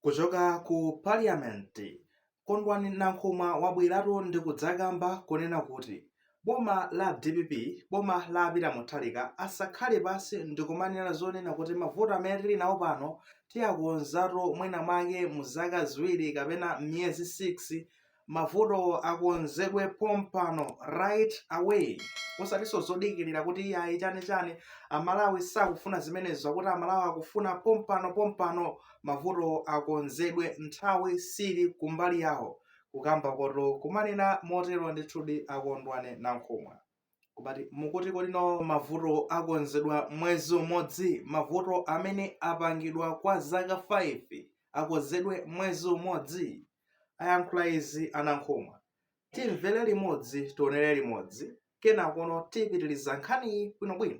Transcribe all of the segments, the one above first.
Kuchoka ku Parliament, Kondwani Nankhumwa wabweratu ndi kudzakamba kunena kuti boma la dpp, boma la a Peter Mutharika asakhale pansi ndikumanena zonena kuti mavuto amene tili nawo pano tiakonzatu mwina mwake mu zaka ziwiri kapena miyezi 6 Mavuto akonzedwe pompano right away osatinso zodikilira kuti iyayi chani chani amalawi sakufuna zimenezo akuti amalawi akufuna pompano pompano mavuto akonzedwe nthawi sili kumbali yawo kukamba koto kumanena motero ndithudi akondwani nankhumwa. Komabe mukuti kodi no mavuto akonzedwa mwezi umodzi? Mavuto amene apangidwa kwa zaka 5 akonzedwe mwezi umodzi? Ayankhula izi a Nankhumwa. Timvere limodzi tionere limodzi kenakono tipitiliza nkhaniyi bwinobwino.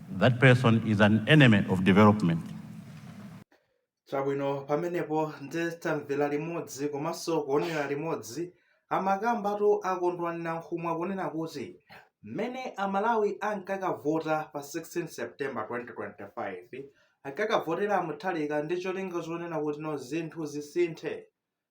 That person is an enemy of development. Chabwino pamenepo nde tamvera limodzi komanso kuonera limodzi amakambatu akondwani nankhumwa kunena kuti mmene amalawi ankakavota pa 16 september 2025 ankakavotera mutharika ndi cholinga chonena kuti no zinthu zisinthe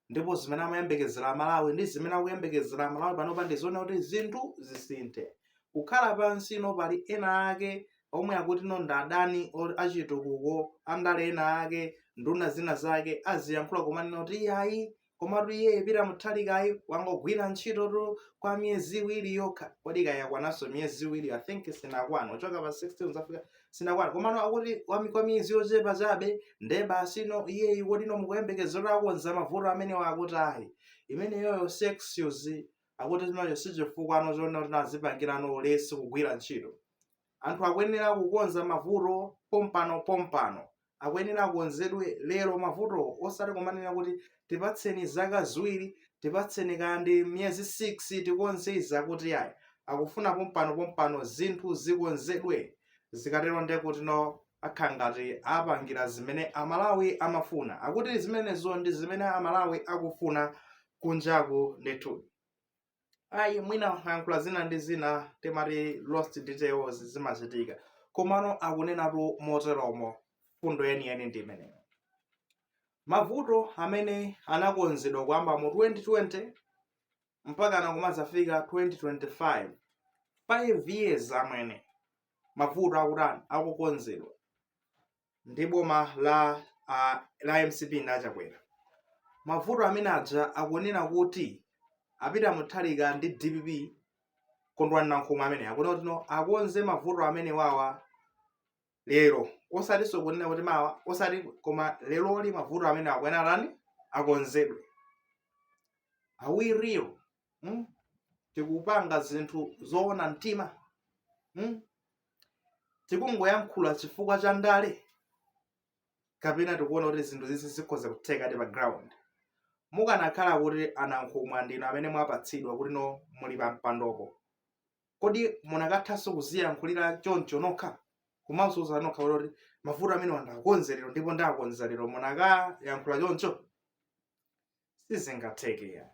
ndipo zimene amayembekezera amalawi ndi zimene akuyembekezera amalawi panopa ndi zonena kuti zinthu zisinthe kukhala pansi no pali ena ake omwe akuti no ndi adani achitukuko andale ena ake nduna zina zake aziyankhula kumanena kuti iyayi komatu iye peter mutharikayi wangogwira ntchito kwa miyezi iwiri yokha kodi kayakwananso miyezi iwiri i think sinakwana kuchoka pa 16 zafika sinakwana komano akuti wami kwa miyezi yochepa chabe nde basi no iyeyi kodi no mukuyembekezera akonza mavuto amenewa akuti ayi imeneyoyo si excuse akuti chinacho si chifukwa no chonena kuti azipangirano ulesi kugwira ntchito anthu akuyenera kukonza mavuto pompano pompano akuyenera akonzedwe lero mavutowo osati kumanena kuti tipatseni zaka ziwiri tipatseni kandi miyezi 6 tikonze izi akuti ayi akufuna pompano pompano zinthu zikonzedwe zikatero nde kuti no akhala ngati apangira zimene amalawi amafuna akuti zimenezo ndi zimene amalawi akufuna kunjaku ndithu ayi mwina ayankhula zina ndi zina timati lost details zimachitika komano akunenatu moteromo fundo yeniyeni ndi imeneyo mavuto amene anakonzedwa kuyamba mu 2020 mpaka nakumazafika 2025 5 years amwene mavuto akutani akukonzedwa ndi boma la a, la mcp ndi achakwera mavuto amene aja akunena kuti apita muthalika ndi dpp kondwani nankhumwa amene akunena kuti no akonze mavuto amenewawa lero osatinso kunena kuti mawa osati koma leroli mavuto amene akuyenera tani akonzedwe are we real mm? tikupanga zinthu zoona mtima mm? tikungoyankhula chifukwa cha ndale kapena tikuona kuti zinthu zizi zikhoza kutheka eti pa ground mukanakhala kuti a nankhumwa ndinu amene mwapatsidwa kuti no muli pa mpandopo kodi munakathanso kuziyankhulira choncho nokha kumauza nokha kuti mavuto amenewa ndakonza lero ndipo ndakonza lero munakayankhula choncho sizingatheke ayi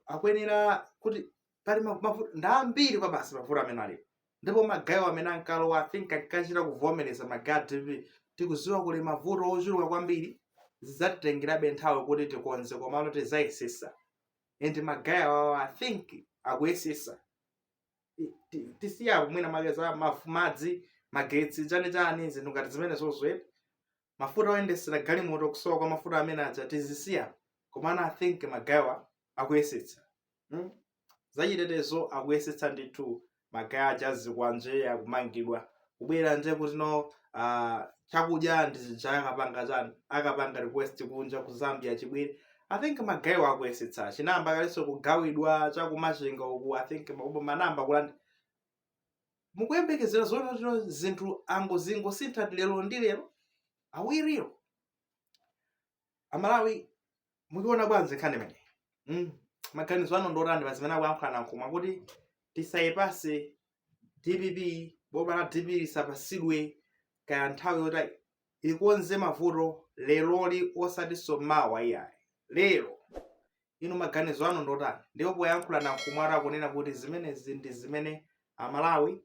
akuyenera kuti pali ma- mavu- ndi ambiri kwabasi mavuto amene alipo ndipo magayewo amene ankalowa i think ankachita kuvomereza magaye a dpp tikuziwa kuli mavuto ochuluka kwambiri zidzatitengerabe nthawi kuti tikonze komano tidzayesesa and magaye awawa i think akuyesesa Ti- ti- tisiye mwina magezi a mafu- madzi magetsi chani chani zinthu ngati zimenezo zokwera mafuta oyendesera galimoto kusowa kwa mafuta amene aja tizisiye komano i think magayewa akuyesetsa hmm? zachitetezo akuyesetsa ndithu magaye a zikwanje akumangidwa kubwera nje kuti no uh, chakudya ndi chija akapanga chani akapanga request kunja ku zambia chibwere i think magayewa akuyesetsa chinayamba kalenso kugawidwa cha ku machinga uku i think makuponi anayamba kulandi mukuyembekezera zonena kuti zinthu angozingosintha lero ndi lero are we real amalawi mukuiona bwanji nkhani imeneyi mm. maganizo anu ndi otani pazimene akuyankhula a nankhumwa kuti tisayipatse dpp boma la dpp lisapatsidwe kaya nthawi yoti ikonze mavuto leroli osatinso mawa iyayi. Lero! Inu maganizo anu ndiotani? Ndipo poyankhula a Nankhumwatu akunena kuti zimenezi ndi zimene a Malawi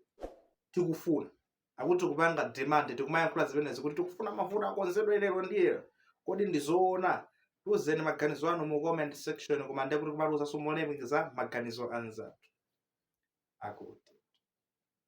tikufuna. Akuti tikupanga demand tikumayankhula zimenezi kuti tikufuna mavuto akonzedwe lero ndi lero. Kodi ndi zoona? Tiuzeni maganizo anu mu comment section koma ndekuti kumatiuzanso molemekeza maganizo a anzathu. Akuti.